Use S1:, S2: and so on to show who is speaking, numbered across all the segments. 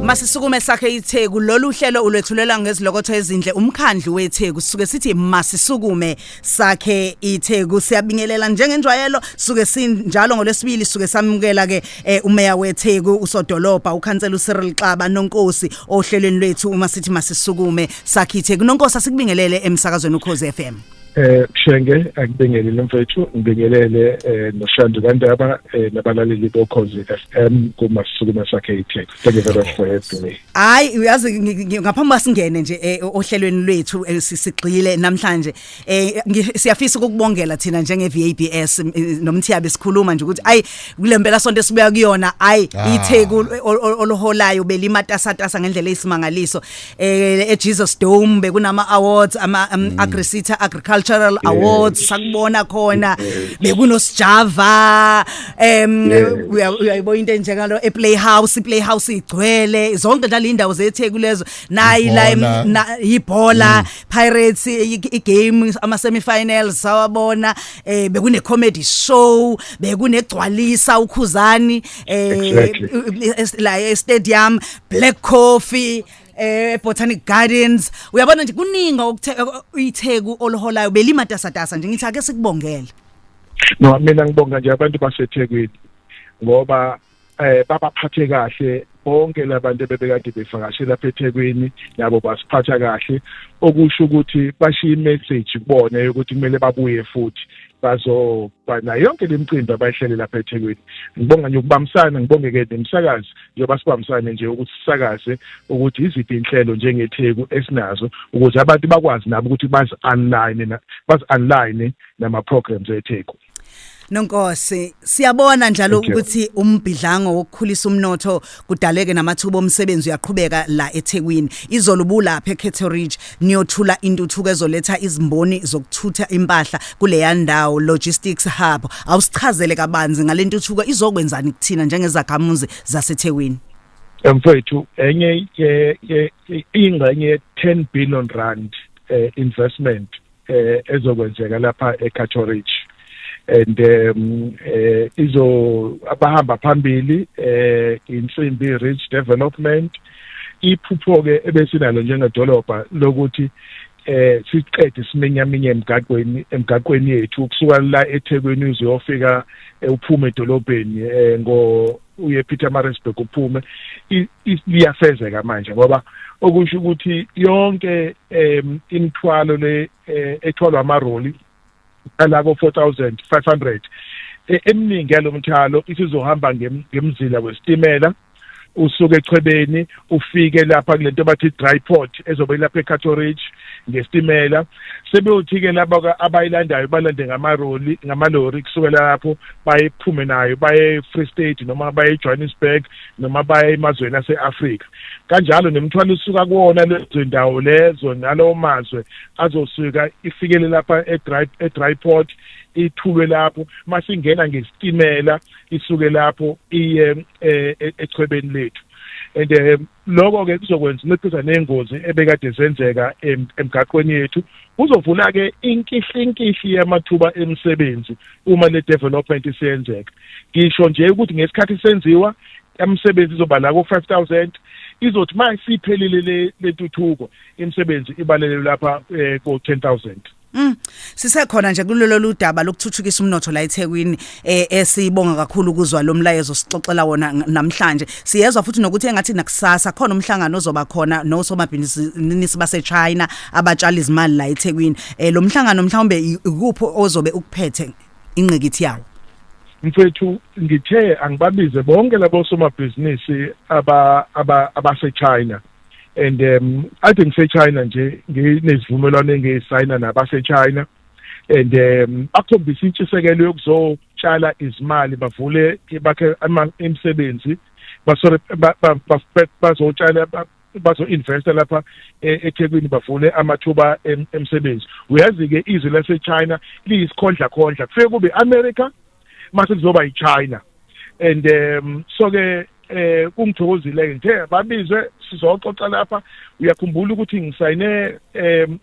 S1: Masisukume sakhe iTheku lolu hlelo ulwethulela ngezilokotho ezinhle umkhandlu weTheku sisuke sithi masisukume sakhe iTheku siyabingelela njengenjwayelo suke sinjalo ngolesibili suke samukela ke eh, umeya weTheku usodolopha ukhansela uCyril Xaba nonkosi ohlelweni lwethu uma sithi masisukume sakhe iTheku nonkosi asikubingelele emsakazweni uKhoze FM Eh Shenge
S2: akubingelele mfethu ngibingelele eh noShandu kaNdaba eh nabalaleli bokhozi FM kuma sukuma sakhe iTech. Thank you very much for having me. Hayi uyazi
S1: ngaphambi kwasingene nje eh, ohlelweni lwethu eh, sisigxile namhlanje eh siyafisa ukubongela thina njenge VABS eh, nomthiya besikhuluma nje ukuthi ay kulempela sonto esibuya kuyona ay ah. iTheku eh, oliholayo belimatasa tasa ngendlela eyisimangaliso eh eJesus Dome bekunama awards ama um, mm. Agrisita Agricultural yeah. Awards sakubona khona bekunosijava em uyayibona into enjengalo ePlayhouse iPlayhouse igcwele zonke la indawo zetheku lezo nayi la ibhola mm. Pirates igame ama semifinals sawabona eh bekune comedy show bekunegcwalisa ukhuzani eh la e stadium black coffee eh Botanic Gardens uyabona nje kuningi okuyitheku oliholayo belimatasatasa nje ngithi ake sikubongele no
S2: mina ngibonga nje abantu basethekwini ngoba eh babaphathe kahle bonke labantu bebekade bevakashela lapha eThekwini nabo basiphatha kahle okusho ukuthi bashiya imessage kubona ukuthi kumele babuye futhi bazoba nayo yonke le micimbi abayihlele lapha eThekwini ngibonga nje ukubambisana ngibonge-ke nemisakazi njengoba sibambisane nje ukuthi sisakaze ukuthi yiziphi inhlelo njengetheku esinazo ukuze abantu bakwazi nabo ukuthi bazi-online bazi-online nama-programs etheku Nonkosi
S1: siyabona njalo ukuthi umbhidlango wokukhulisa umnotho kudaleke namathuba omsebenzi uyaqhubeka la eThekwini izolo bulapha eCato Ridge niyothula intuthuko ezoletha izimboni zokuthutha impahla kuleya ndawo logistics hub awusichazele kabanzi ngalentuthuko izokwenzani kuthina njengezakhamuzi zaseThekwini mfowethu
S2: enye ingxenye ye-10 billion rand eh, investment eh ezokwenzeka lapha eCato Ridge and um eh izo abahamba phambili eh insimbi Ridge Development iphupho ke ebesinalo njengedolobha lokuthi eh siqede simenyaminye emgaqweni emgaqweni yethu kusuka la eThekwini uzofika eh, uphuma edolobheni eh, ngo uye Pietermaritzburg uphume liyafezeka manje ngoba okusho ukuthi yonke um imithwalo le eh, ethwalwa amaroli alabo 4500 e, eminingi yalomthalo isizohamba ngemzila wesitimela usuke echwebeni ufike lapha kulento bathi dry port ezobe ilapha eCato Ridge ngesitimela sebeyothi ke laba abayilandayo balande ngamaroli ngamalori kusukela lapho bayephume nayo baye Free State noma baye Johannesburg noma baye emazweni aseAfrika kanjalo nemthwalo usuka kuwona lezo ndawo lezo nalowo mazwe azosuka ifikele lapha eDry eDry port ithulwe lapho masingena ngesitimela isuke lapho iye eh, e-, echwebeni lethu and eh, lokho ke kuzokwenza unciphisa nezingozi ebekade zenzeka emgaqweni yethu kuzovula ke inkihlinkihli yamathuba emisebenzi uma le development isiyenzeka ngisho nje ukuthi ngesikhathi senziwa umsebenzi izoba la ko 5000 izothi manje siphelile le lentuthuko imisebenzi ibalele lapha eh, ko 10000 Mm.
S1: Sisekhona nje kulelo ludaba lokuthuthukisa umnotho la eThekwini eh esibonga kakhulu ukuzwa lo mlayezo sixoxela wona namhlanje. Siyezwa futhi nokuthi engathi nakusasa khona umhlangano ozoba khona nosomabhizinisi baseChina abatshali izimali la eThekwini. Eh lo mhlangano mhlawumbe ikuphi ozobe ukuphethe inqekithi yawo? mfethu
S2: ngithe angibabize bonke labo somabhizinisi aba abaseChina and um ade ngisechina nje nginezivumelwano engiyisayina nabasechina and um bakhombisa intshisekelo yokuzotshala izimali bavule bakhe imisebenzi basore bazotshala bazo-investa lapha e, ethekwini bavule amathuba emsebenzi uyazi-ke izwe lasechina liyisikhondlakhondla kufike kube i-america mase kuzoba yiChina and um so ke eh kungithokozile ngithe babizwe sizoxoxa lapha uyakhumbula ukuthi ngisayine em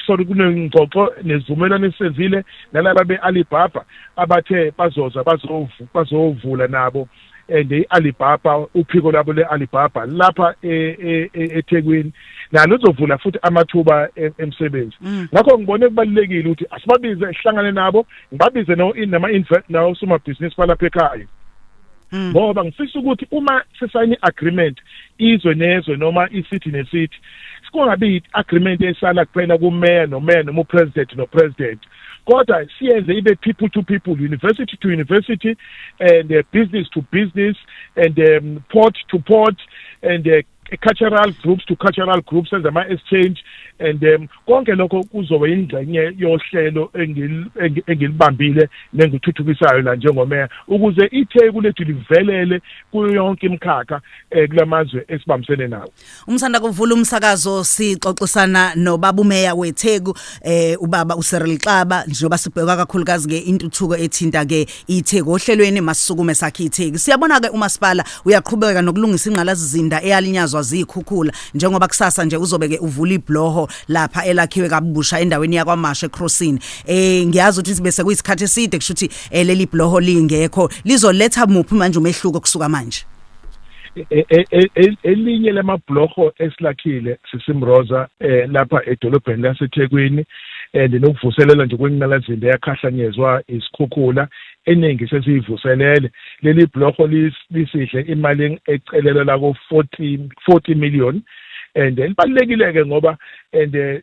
S2: sorry kunengxoxo nezivumelwano esenzile nalaba beAlibaba abathe bazoza bazovu bazovula nabo and eh, i-alibaba uphiko lwabo le-alibaba lapha e, e, e, ethekwini nalo lizovula futhi amathuba emsebenzi mm. ngakho ngibone kubalulekile ukuthi asibabize sihlangane nabo ngibabize naosomabhizinisi balapha ekhaya mm. ngoba ngifisa ukuthi uma sisayine i-agreement izwe nezwe noma isithi nesithi kungabi i-agreement esala kuphela kumeya nomeya noma upresident nopresident kodwa siyenze ibe people to people university to university and uh, business to business and um, port to port and uh, cultural groups to cultural groups senze ama-exchange and um konke lokho kuzoba yingxenye yohlelo engilibambile nengithuthukisayo la njengomeya ukuze itheku lethu livelele kuyo yonke imikhakha um kula mazwe esibambisene nawo Umsanda kuvula
S1: umsakazo sixoxisana nobabumeya weTheku eh ubaba uSeril Xaba njengoba sibheka kakhulukazi ke intuthuko ethinta ke iTheku ohlelweni masukume sakhe iTheku siyabona ke umasipala uyaqhubeka nokulungisa ingqalazizinda eyalinyazwa zikhukhula njengoba kusasa nje uzobe ke uvula ibloho lapha elakhiwe kabusha endaweni yakwaMashe Crossing eh ngiyazi ukuthi bese kuyisikhathi eside kushuthi eh, leli bloho lingekho lizoletha muphi manje umehluko kusuka manje E, e, e,
S2: elinye lamabhlorho esilakhile sisimroza eh, lapha edolobheni lasethekwini and eh, nokuvuselela nje kwenqalazinde yakhahlanyezwa isikhukhula eningi sesiyivuselele leli bhlorho lisidle imali ecelelwa lako 40 40 million and elibalekile-ke ngoba and eh,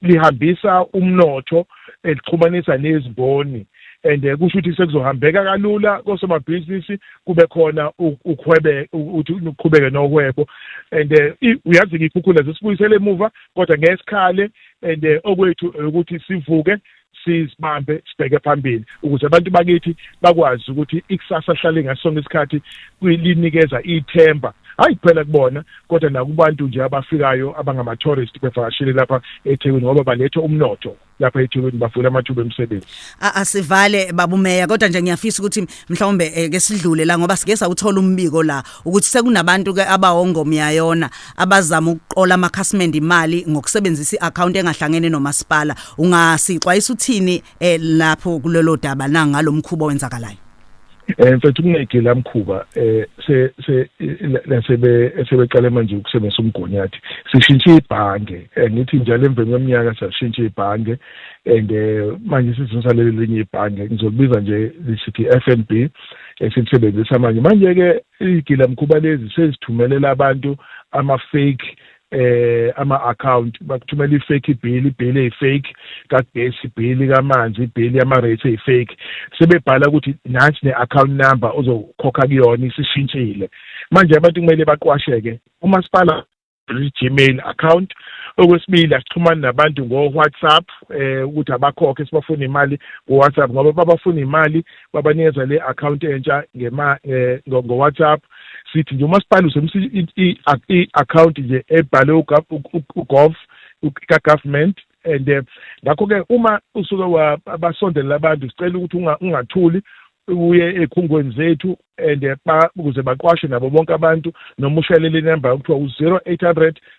S2: lihambisa umnotho elixhumanisa nezimboni and eh, kusho ukuthi sekuzohambeka kalula kosomabhizinisi kube khona ukhwebe ukuthi uqhubeke nohwebo and eh, uyazi ngikhukhula zisibuyisele emuva kodwa ngesikhale and eh, okwethu ukuthi sivuke sizibambe sibheke phambili ukuze abantu bakithi bakwazi ukuthi ikusasa lihlale ngasonke isikhathi linikeza ithemba hayi kuphela kubona kodwa nakubantu nje abafikayo abangama-tourist bevakashile lapha ethekwini ngoba baletha umnotho lapha eThekwini bafuna amathuba emisebenzi asivale
S1: babumeya kodwa nje ngiyafisa ukuthi mhlawumbe eh, ke sidlule la ngoba sike sawuthola umbiko la ukuthi sekunabantu ke abawongomyayona abazama ukuqola amakhasimende imali ngokusebenzisa iaccount engahlangene nomasipala ungasixwayisa uthini eh, lapho kulelo daba nangalo mkhubo wenzakalayo Eh mfethu
S2: kunegila mkhuba eh se se lasebe sebeqale manje ukusebenzisa umgonyathi sishintshe ibhange eh, ngithi njalo emveni kweminyaka sashintsha ibhange and eh, manje sizonsa lelinye ibhange ngizolibiza nje lisithi FNB esilisebenzisa manje manje ke igila mkhuba lezi sezithumelela abantu ama fake eh ama account bakuthumela ifake bill ibill eyifake kagesi bill kamanzi bill yama rates eyifake sebebhala ukuthi nansi ne account number ozokhokha kuyona isishintshile manje abantu kumele baqwasheke umasipala Gmail account okwesibili asixhumani nabantu ngo WhatsApp eh ukuthi abakhokhe sibafuna imali ngo WhatsApp ngoba babafuna imali babanikeza le account entsha ngema eh, ngo WhatsApp sithi nje umasipala usebenzisa i-account nje ebhalwe ugov ka-government and eh, ngakho-ke uma usuke basondelela abantu sicela ukuthi ungathuli uye ekhungweni zethu and eh, ukuze baqwashe nabo bonke abantu noma ushayelele inamba okuthiwa u-zero eight hundred